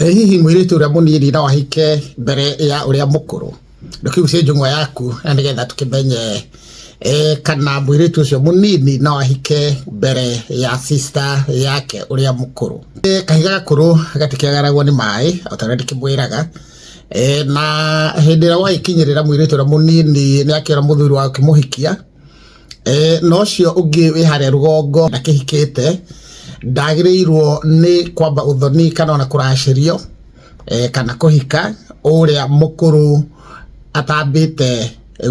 Ĩ hihi mũirĩtu ũrĩa mũnini no ahike mbere ya ũrĩa mũkũrũ? Reke ciũria njũng'wa yaku na nĩgetha tũkĩmenye kana mũirĩtu ũcio mũnini no ahike mbere ya sister yake ũrĩa mũkũrũ. Kahiga gakũrũ gatikĩagaragwo nĩ maĩ ota ũrĩa ndĩkĩmwĩraga, na hĩndĩ ĩrĩa gwagĩkinyĩrĩra mũirĩtu ũrĩa mũnini nĩ akĩona mũthuri wa gũkĩmũhikia, eh, na ũcio ũngĩ wĩ harĩa rũgongo ndakĩhikĩte ndagĩrĩirwo nĩ kwamba ũthoni kana ona kũracĩrio eh, kana kũhika ũrĩa mũkũrũ atambĩte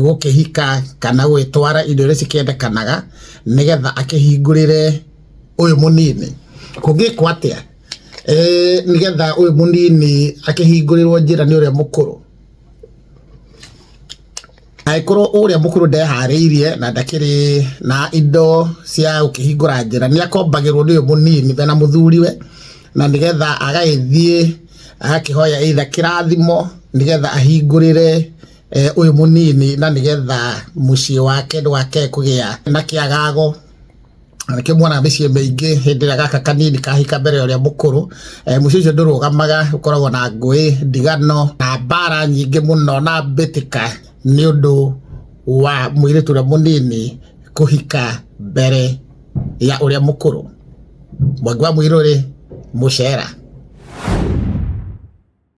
gũkĩhika kana gwĩtwara indo iria cikĩendekanaga nĩgetha akĩhingũrĩre ũyũ mũnini kũngĩkwo atĩa eh, nĩgetha ũyũ mũnini akĩhingũrĩrwo njĩra nĩ ũrĩa mũkũrũ Angĩkorwo ũrĩa mũkũrũ ndeharĩirie na ndakĩrĩ na indo cia gũkĩhingũra njĩra, nĩ akombagĩrwo nĩ ũyũ mũnini be na mũthuriwe, na nĩgetha agagĩthiĩ agakĩhoya either kĩrathimo, nĩgetha ahingũrĩre ũyũ mũnini na nĩgetha mũciĩ wake ndũgakĩae kũgĩa na kĩagago. anake mwana mĩciĩ mĩingĩ hĩndĩ ĩrĩa gaka kanini kahika mbere ya ũrĩa mũkũrũ e, eh, mũciĩ ũcio ndũrũgamaga ũkoragwo na ngũĩ ndigano na mbara nyingĩ mũno na mbĩtĩka nĩ ũndũ wa mũirĩtu ũrĩa mũnini kũhika mbere ya ũrĩa mũkũrũ mwangi wa mũirũ rĩ mũcera